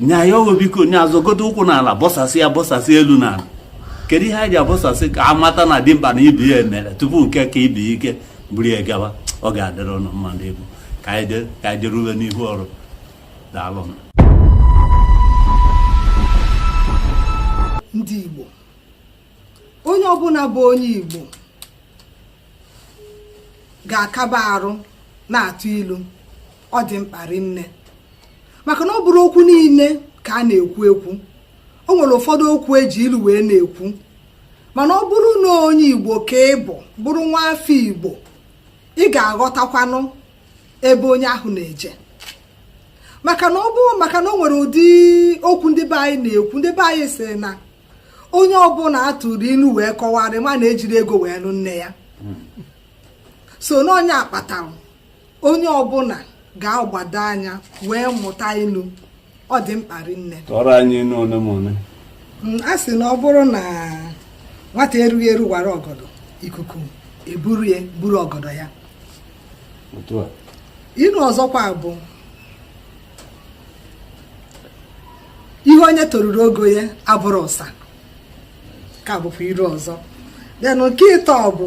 nye ya oghe biko nya azọgodu ụkwụ n'ala bọsasị ya bọsasị elu n'ala kedu ihe anyị ji abọsasị ka a mata na dimkpa na ibe ya emere tupu nke ka ibe ya ike buru ya gawa ọ ga-adịrị ụnụ mma ndị Igbo ka anyị jee- ka anyị jerube n'ihu ọrụ daalụ nụ. ndị igbo onye ọbụla bụ onye igbo ga-akaba arụ na-atụ ilu ọ dị mkpa rinne maka na ọ bụrọ okwu niile ka a na-ekwu ekwu o nwere ụfọdụ okwu eji ilu wee na-ekwu mana ọ bụrụ na onye igbo ka ị bụ bụrụ nwa afọ igbo ị ga-aghọtakwanụ ebe onye ahụ na-eje maka na ọ bụ maka na o nwere ụdị okwu ndị be anyị na-ekwu ndị be anyị sị na onye ọbụla a tụrụ ilu wee kọwara ya ma na ejirọ ego wee nụ nne ya so na ọ nya kpatara onye ọbụla ga-agbado anya wee mụta ilu ọ dị mkpa rinne tụọrọ anyị ilu ole ma ole mm, a sị na ọ bụrụ na nwata erughị eru wara ọgọdọ ikuku eburu ya buru ọgọdọ ya ilu ọzọkwa bụ ihe onye toruru ogo ya abụrọ ụsa nke a bụkwa ilu ọzọ then nke ịtọ bụ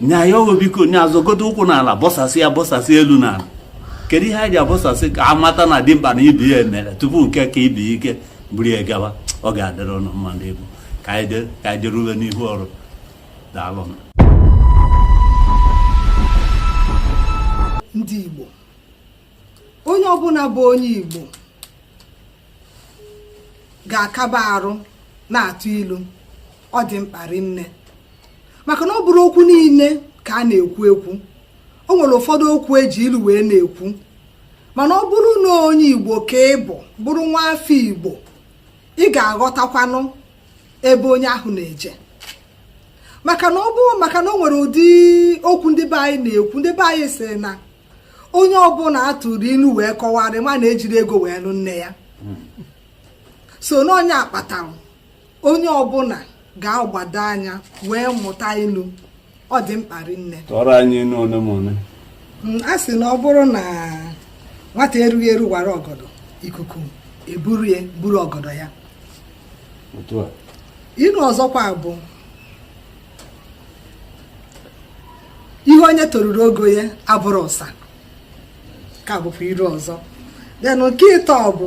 nye ya oghe biko nya azọgodu ụkwụ n'ala bọsasị ya bọsasị elu n'ala kedu ihe anyị ji abọsasị ka a mata na dimkpa na ibe ya emere tupu nke ka ibe ya ike buru ya gawa ọ ga-adịrị ụnụ mma ndị Igbo ka anyị jee- ka anyị jerube n'ihu ọrụ daalụ nụ. ndị igbo onye ọbụla bụ onye igbo ga-akaba arụ na-atụ ilu ọ dị mkpa rinne maka na ọ bụrọ okwu niile ka a na-ekwu ekwu o nwere ụfọdụ okwu eji ilu wee na-ekwu mana ọ bụrụ na onye igbo ka ị bụ bụrụ nwa afọ igbo ị ga-aghọtakwanụ ebe onye ahụ na-eje maka na ọ bụ maka na o nwere ụdị okwu ndị be anyị na-ekwu ndị be anyị sị na onye ọbụla a tụrụ ilu wee kọwara ya ma na ejirọ ego wee nụ nne ya so na ọ nya kpatara onye ọbụla ga-agbado anya wee mụta ilu ọ dị mkpa rinne tụọrọ anyị ilu ole ma ole mm, a sị na ọ bụrụ na nwata erughị eru wara ọgọdọ ikuku eburu ya buru ọgọdọ ya ilu ọzọkwa bụ ihe onye toruru ogo ya abụrọ ụsa nke a bụkwa ilu ọzọ then nke ịtọ bụ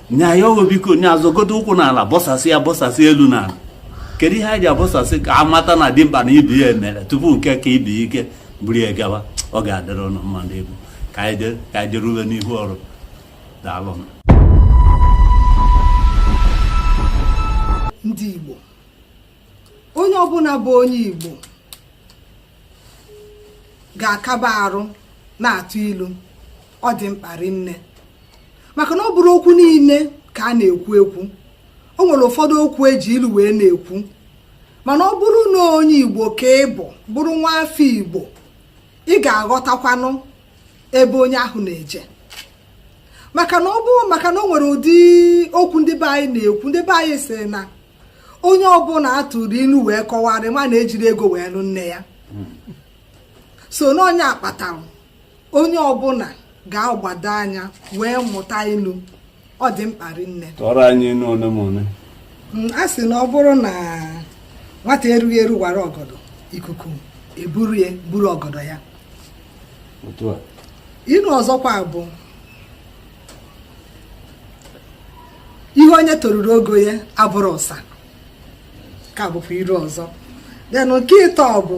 nye anyị ọghọ biko nya azọgote ụkwụ n'ala bọsasị ya bọsasị elu n'ala kedu ihe eji abọsasị ka a mata na dimkpa na ibe ya emere tupu nke ka ibe ya ike buru ya gawa ọ ga-adịrị ụnụ mma ndị egwu ka anyị jere- ka anyị jerube n'ihu ọrụ daalụ nụ. ndị igbo onye ọbụla bụ onye Igbo ga-akaba arụ na-atụ ilu ọ dị mkpa rinne maka na ọ bụrọ okwu niile ka a na-ekwu ekwu o nwere ụfọdụ okwu eji ilu wee na-ekwu mana ọ bụrụ na onye Igbo ka ị bụ bụrụ nwa afọ Igbo ị ga-aghọtakwanụ ebe onye ahụ na-eje maka na ọ bụ maka na o nwere ụdị okwu ndị be anyị na-ekwu ndị be anyị sị na onye ọbụla atụrụ ilu wee kọwara ma na ejirọ ego wee nụ nne ya so na ọ nya kpatara onye ọbụla ga-agbado anya wee mụta ilu ọ dị mkpa rinne tụọrọ anyị ilu ole ma ole mm, a sị na ọ bụrụ na nwata erughị eru wara ọgọdọ ikuku eburu ya buru ọgọdọ ya ilu ọzọkwa bụ ihe onye toruru ogo ya abụrọ ụsa nke a bụkwa ilu ọzọ then nke ịtọ bụ